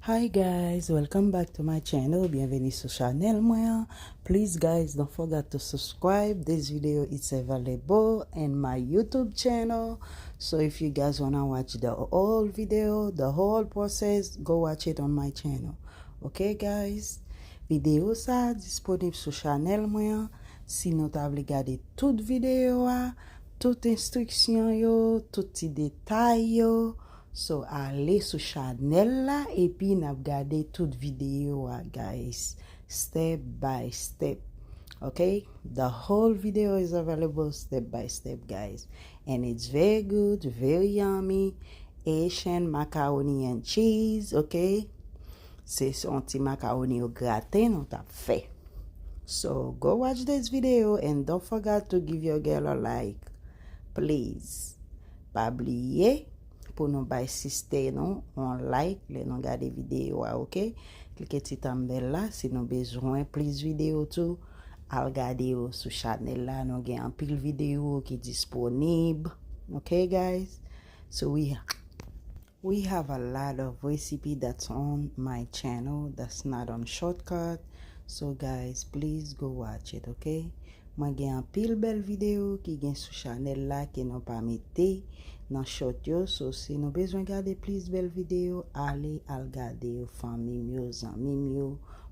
Hi guys welcome back to my channel byenveni sou chanel mwen an please guys don't forget to subscribe this video is available in my youtube channel so if you guys wanna watch the whole video the whole process go watch it on my channel ok guys video sa disponib sou chanel mwen an si nou ta vle gade tout video a tout instruction yo tout ti detay yo So ale sou chanel la epi nap gade tout video a guys step by step ok the whole video is available step by step guys and it's very good very yummy Haitian macaroni and cheese ok se yon ti macaroni yo graten nou tap fè so go watch this video and don't forget to give your girl a like please Pa bliye pou nou bay siste nou yon like lè nou gade videyo a ok. Klike ti tanbèl la si nou bezwen plis videyo tou al gade yo sou chanèl la nou gen anpil videyo ki disponib ok guys. So we We have a lot of recipe that's on my channel that's not on shortcut so guys please go watch it ok mwen gen anpil bèl video ki gen sou chanèl la ke nou pa mete nan short yo so si nou bezwen gade plis bèl video ale al gade yo fanmim yo zanmim yo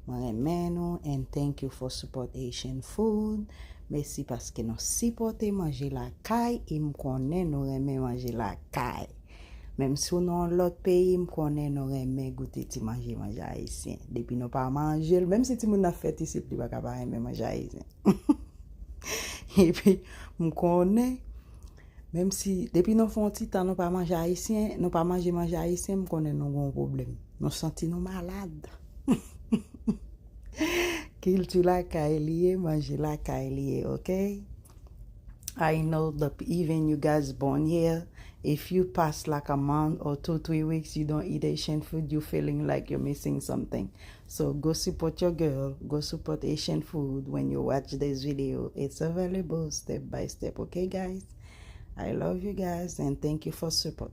mwen renmen nou and thank you for support Haitian food mesi paske nou sipote manje lakay em konnen nou renmen manje lakay. Menm si w nan yon lòt peyi m konnen nou renmen goute ti manje manje ayisyen. Depi nou pa manje l, menm si timoun nan fèt isit li pa ka pa renmen manje ayisyen. Epi m konnen menm si depi nou fè yon ti tan nou pa manje ayisyen, nou pa manje manje ayisyen m konnen nou gen yon pwoblèm. Nou santi nou malad. Kilti lakay li ye, manje lakay li ye, ok? I know the even you guys born here if you pass like a month or two three weeks you don't eat Haitian food you feeling like you're missing something so go support your girl go support Haitian food when you watch this video it's available step by step okay guys I love you guys and thank you for support.